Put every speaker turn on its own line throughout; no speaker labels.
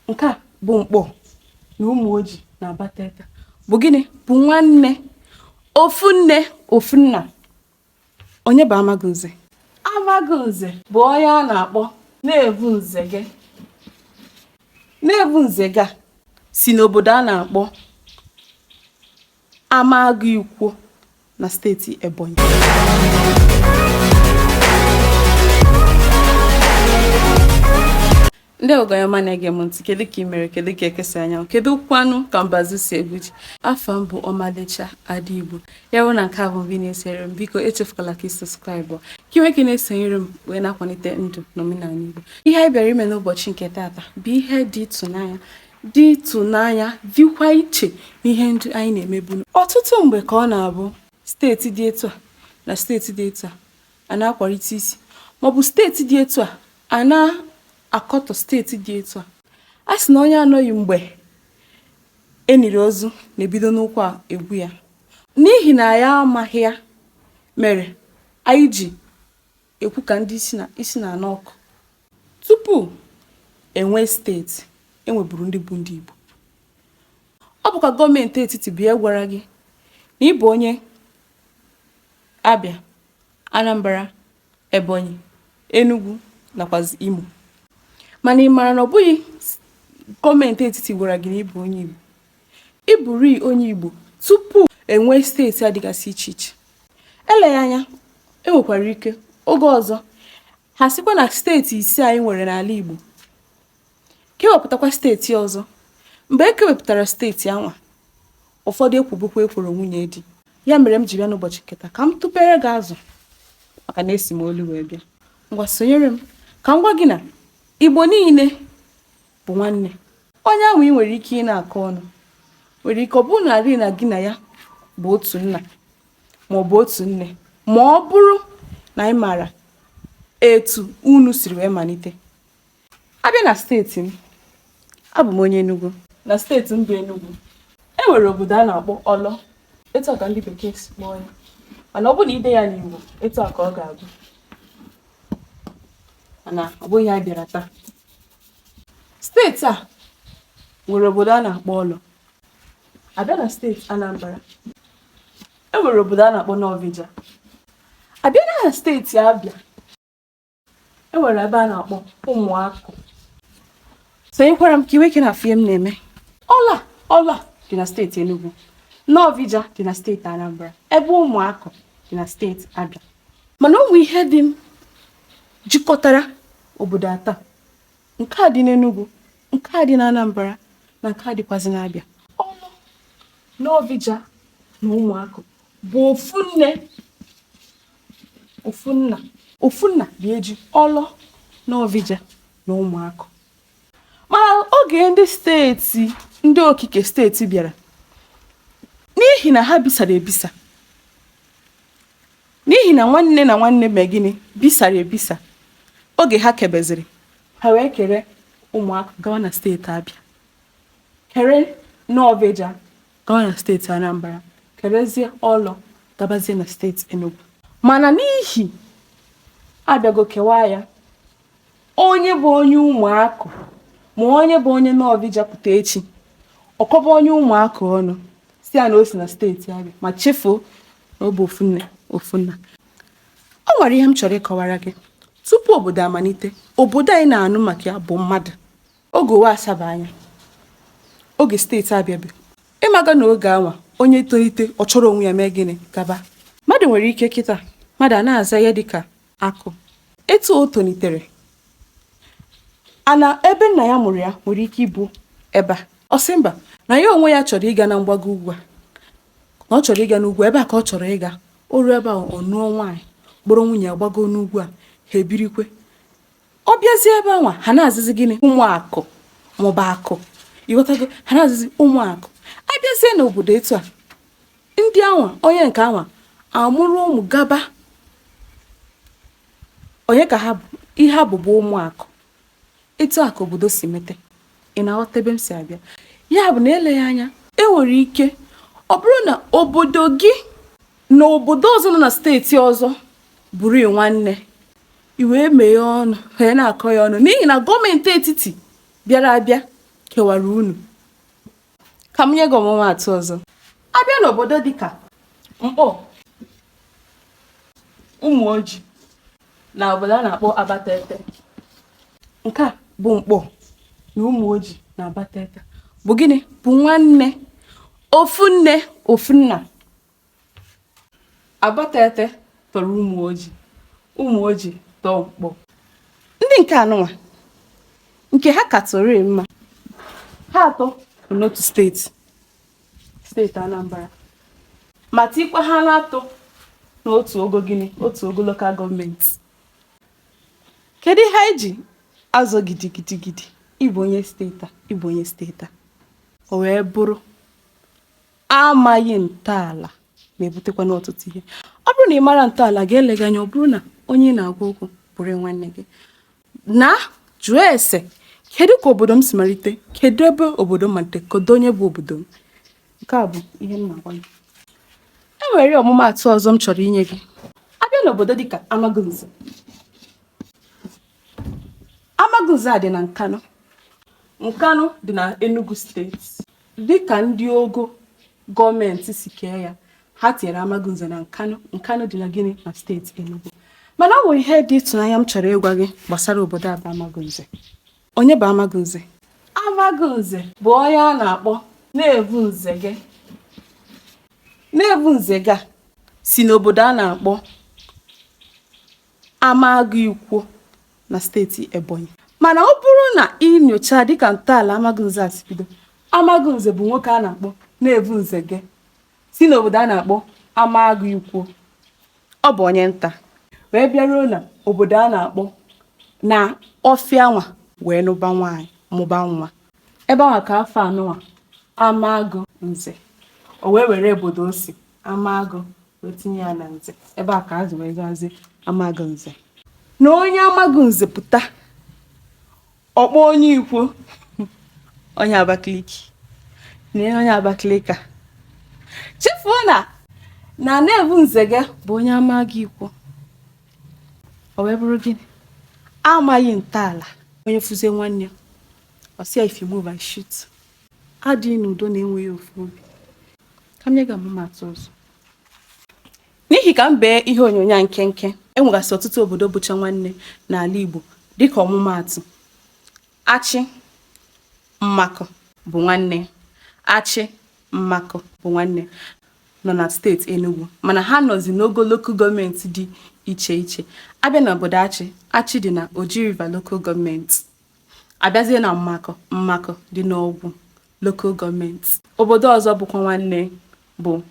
nke a bụ Nkpọ na Ụmụoji na Abatete bụ gịnị bụ nwanne ofu nne ofu nna onye bụ Amagunze Amagunze bụ onye a na-akpọ Nvu Nzege Nvu Nzege si n'obodo a na-akpọ Amagu-Ikwo na steeti Ebonyi. ndị ọgọ ọyị ọma na-ege m ntị kedu ka ị mere kedu ka eke si anya anwụ kedu kwanụ ka mbazu si egwu ji afa m bụ ọmalịcha ada igbo ya bụ na nke a bụ mbụ ị na-esere m biko echefukwala ka ị sọskraịbụ ka i nwee ike na-esonyere m wee na-akwalite ndụ na omenala igbo ihe anyị bịara ime n'ụbọchị nke taata bụ ihe dị ịtụnanya dị ịtụnanya dịkwa iche n'ihe ndị anyị na-emebu. Ọtụtụ mgbe ka ọ na-abụ steeti dị etu a na steeti dị etu a a na-akwarịta isi maọbụ steeti dị etu a a na-akọtọ steeti dị etu a. A sị na onye anọghị mgbe e niri ozu na-ebido n'ụkwụ egwu ya. N'ihi na anyị amaghị ya mere anyị ji ekwu ka ndị isi na-anụ ọkụ. Tupu e nwee steeti, e nweburu ndị bụ ndị Igbo. Ọ bụkwa gọọmenti etiti bịa gwara gị na ị bụ onye Abịa, Anambra, Ebonyi, Enugu nakwazi Imo. Mana ị mara na ọ bụghị gọọmenti etiti gwara gị na ị bụ onye Igbo. Ị bụrịị onye Igbo tupu e nwee steeti a dịgasị iche iche. eleghị anya e nwekwara ike oge ọzọ ha sịkwa na steeti ise anyị nwere n'ala Igbo kewepụtakwa steeti ọzọ mgbe e kewepụtara steeti anwa ụfọdụ ekwobekwa ekworo nwunye di ya mere m ji bịa n'ụbọchị nke taa ka m tụpere gị azụ maka na esi m olu wee bịa ngwa sonyere m ka m gwa gị na igbo niile bụ nwanne onye ahụ ị nwere ike ị na-akọ ọnụ nwere ike ọ bụrụ na gị na ya bụ otu nna ma ọ bụ otu nne ma ọ bụrụ na ị maara etu unu siri wee malite a bịa na steeti m abụ m onye Enugu na steeti m bụ Enugu e nwere obodo a na-akpọ Ọlọ etu a ka ndị bekee si kpọọ ya mana ọ bụrụ na i dee ya n'Igbo etu a ka ọ ga-abụ mana ọ bụghị ya bịara taa steeti a nwere obodo a na-akpọ Ọlọ a bịa na steeti anambra e nwere obodo a na-akpọ Nọvịja a bịa na steeti abịa e nwere ebe a na-akpọ ụmụakụ sonyekwara m ka i nwee ike na-afụ ihe m na-eme Ọlọ Ọlọ dị na steeti enugu Nọvịja dị na steeti anambra ebe ụmụakụ dị na steeti abịa mana o nwere ihe dị m jikọtara Obodo atọ a, nke a dị n'Enugu, nke a dị n'Anambra na nke a dịkwazị n'Abịa. Ọlọ, Nọvịja na Ụmụakụ bụ ofu nne, ofu nna. Ofu nna dị eji Ọlọ, Nọvịja na Ụmụakụ. Mana oge ndị steeti, ndị okike steeti bịara, n'ihi na ha bisara ebisa, n'ihi na nwanne na nwanne mee gịnị bisara ebisa oge ha kebeziri ha wee kere ụmụakụ gawa na steeti abịa kere nọvịja gawa na steeti anambra kerezie ọlọ gabazie na steeti enugu mana n'ihi abịago kewaa ya onye bụ onye ụmụakụ ma onye bụ onye nọvịja pụta echi ọ kọba onye ụmụakụ ọnụ sị ya na o si na steeti abịa ma chefuo na ọ bụ ofu nne ofu nna o nwere ihe m chọrọ ịkọwara gị tupu obodo amalite obodo anyị na-anụ maka ya bụ mmadụ oge ụwa asaba anya oge steeti abịa bụ ịmaga na oge anwa onye tolite ọ chọrọ onwe ya mee gịnị gaba mmadụ nwere ike kịta mmadụ a na-aza ya dịka akụ etu o tolitere ana ebe nna ya mụrụ ya nwere ike ịbụ ebe a ọ sị mba na ya onwe ya chọrọ ịga na mgbago ugwu a na ọ chọrọ ịga n'ugwu ebe a ka ọ chọrọ ịga o ruo ebe a ọ nụọ nwaanyị kpọrọ nwunye ya gbago n'ugwu a ha ebirikwe ọ bịazie ebe anwa ha na-azịzi gịnị ụmụakụ maọbụ akụ ị ghọtago ha na-azịzi ụmụakụ abịazie n'obodo etu a ndị anwa onye nke anwa amụrụ ụmụ gaba onye ka ha bụ ihe ha bụ bụ ụmụakụ etu a ka obodo si mete ị na-aghọta ebe m si abịa ya bụ na eleghị anya e nwere ike ọ bụrụ na obodo gị na obodo ọzọ nọ na steeti ọzọ bụrụ nwanne i wee mee ọnụ wee na-akọ ya ọnụ n'ihi na gọọmenti etiti bịara abịa kewara unu ka m nye gị ọmụmaatụ ọzọ abịa n'obodo dịka nkpọ ụmụoji na obodo a na-akpọ abatete nke a bụ nkpọ na ụmụoji na abatete bụ gịnị bụ nwanne ofu nne ofu nna Abatete tọrọ Ụmụoji, Ụmụoji tọọ Nkpọ. Ndị nke anụnwa nke ha katụrụ mma ha atọ bụ n'otu steeti steeti Anambra ma tikwa ha n'atọ n'otu ogo gịnị otu ogo lokal gọọmenti kedu ihe anyị ji azọ gidigidigidi ịbụ onye steeti a ịbụ onye steeti a o wee bụrụ amaghị ntọala na-ebutekwanụ ọtụtụ ihe ọ bụrụ na ị mara ntọala gị eleghị anya ọ bụrụ na onye ị na-agwa okwu bụrụ nwanne gị na jụọ ese kedu ka obodo m si malite kedu ebe obodo m malite kedu onye bụ obodo m nke a bụ ihe m na-agwa gị e nwere ọmụmaatụ ọzọ m chọrọ inye gị a bịa n'obodo dịka Amagunze Amagunze a dị na Nkanu Nkanu dị na Enugu steeti Dịka ndị ogo gọọmenti si kee ya, ha tinyere Amagunze na Nkanu. Nkanu dị na gịnị na steeti Enugu. Mana o nwere ihe dị ịtụnanya m chọrọ ịgwa gị gbasara obodo a bụ Amagunze. Onye bụ Amagunze? Amagunze bụ onye a na-akpọ Nevu Nzege. Nevu Nzege a si n'obodo a na-akpọ Amagu Ikwo na steeti Ebonyi. Mana ọ bụrụ na ị nyochaa dịka ntọala Amagunze a si bido, Amagunze bụ nwoke a na-akpọ Nevu Nzege si n'obodo a na-akpọ Amagu Ikwo. Ọ bụ onye nta wee bịaruo na obodo a na-akpọ na ọfịa nwa wee nụba nwaanyị mụba nwa. Ebe ahụ ka afa nụnwa Amagunze o wee were obodo o si Amagu wee tinye ya na nze ebe a ka azụ wee zazi Amagunze na onye Amagunze pụta ọ kpọọ onye Ikwo onye Abakaliki na onye Abakaliki e chefuo na na Nevu Nzege bụ onye Amagu Ikwo o wee bụrụ gịnị amaghị ntọala onye fụzie nwanne ya ọ sị ya if you move I shoot adịghị n'udo na enweghị ofu obi ka m nye gị ọmụmaatụ ọzọ n'ihi ka m bee ihe onyonyo a nkenke e nwegasị ọtụtụ obodo bụcha nwanne n'ala Igbo dịka ọmụmaatụ Achị Mmakụ bụ nwanne Achị Mmakụ bụ nwanne nọ na steeti Enugu mana ha nọzi n'ogo lokal gọọmenti dị iche iche a bịa na obodo Achị Achị dị na Oji River lokal gọọmenti a bịazie na Mmakụ Mmakụ dị n'Ọgwụ Local Gọọmenti. Obodo ọzọ bụkwa nwanne bụ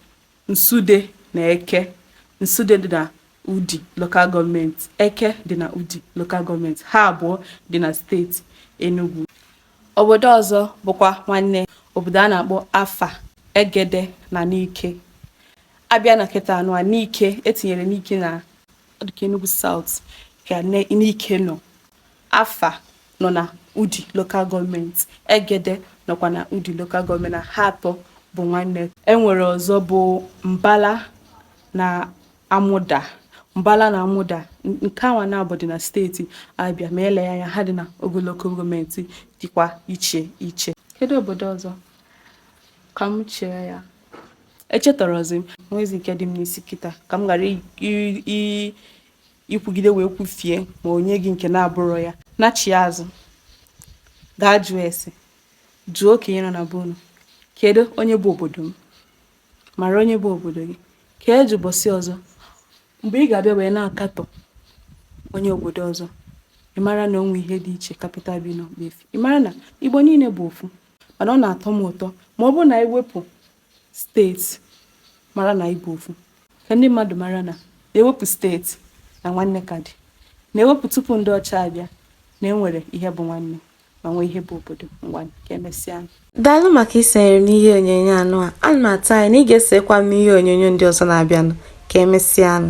Nsude na Eke. Nsude dị na Udi Local Gọọmenti, Eke dị na Udi Local Gọọmenti, ha abụọ dị na steeti Enugwu. Obodo ọzọ bụkwa nwanne obodo a na-akpọ Afa, Egede na Nike. A bịa na kịta nụwa Nike e tinyere Nike na ọ dị ka Enugwu South ka Nike nọ Afa nọ na Udi Local Gọọmenti, Egede nọkwa na Udi Local Gọọmenti na ha atọ bụ nwanne. E nwere ọzọ bụ Mbala na Amuda. Mbala na Amuda nke anwa naabọ dị na steeti Abia ma eleghị anya ha dị na Ogu Local Gọọmenti dịkwa iche iche. Kedu obodo ọzọ? Ka m chee ya. Echetọrọzi m. Nwezi nke dị m n'isi kịta ka m ghara ikwugide wee kwufie ma onye gị nke na-abụrụ ya nachie azụ gaa jụọ ese jụọ okenye nọ na be unu kedu onye bụ obodo m mara onye bụ obodo gị ka eji ụbọchị ọzọ mgbe ị ga-abịa wee na-akatọ onye obodo ọzọ ị mara na o nwe ihe dị iche kapịta bi n'ọkpa efi ị mara na igbo niile bụ ofu mana ọ na-atọ m ụtọ ma ọ bụrụ na anyị wepụ steeti mara na Igbo bụ ofu ka ndị mmadụ mara na na e wepụ steeti na nwanne ka dị na e wepụ tupu ndị ọcha abịa na enwere ihe bụ nwanne ma nwee ihe bụ obodo ngwa ka emesịa daalụ
maka isonyere m n'ihe onyonyo anụ a ana m atụ anya na ị ga-esokwa m n'ihe onyonyo ndị ọzọ na-abịanụ ka emesịanụ